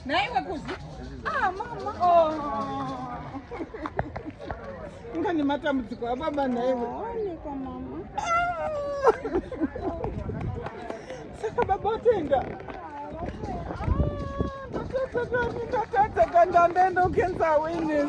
naiwe kuzi ah, mama oh. nga nematambudziko ababa naiwe saka baba atenda ndatadza kandandaenda ukenza awareness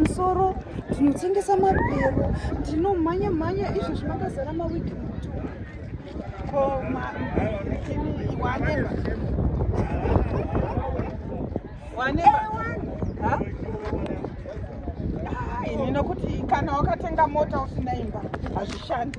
musoro tinotengesa mabhero tinomhanya mhanya izvo zvimakazara mawiki mutu ko waneba waneba ini nokuti kana wakatenga mota usina imba hazvishandi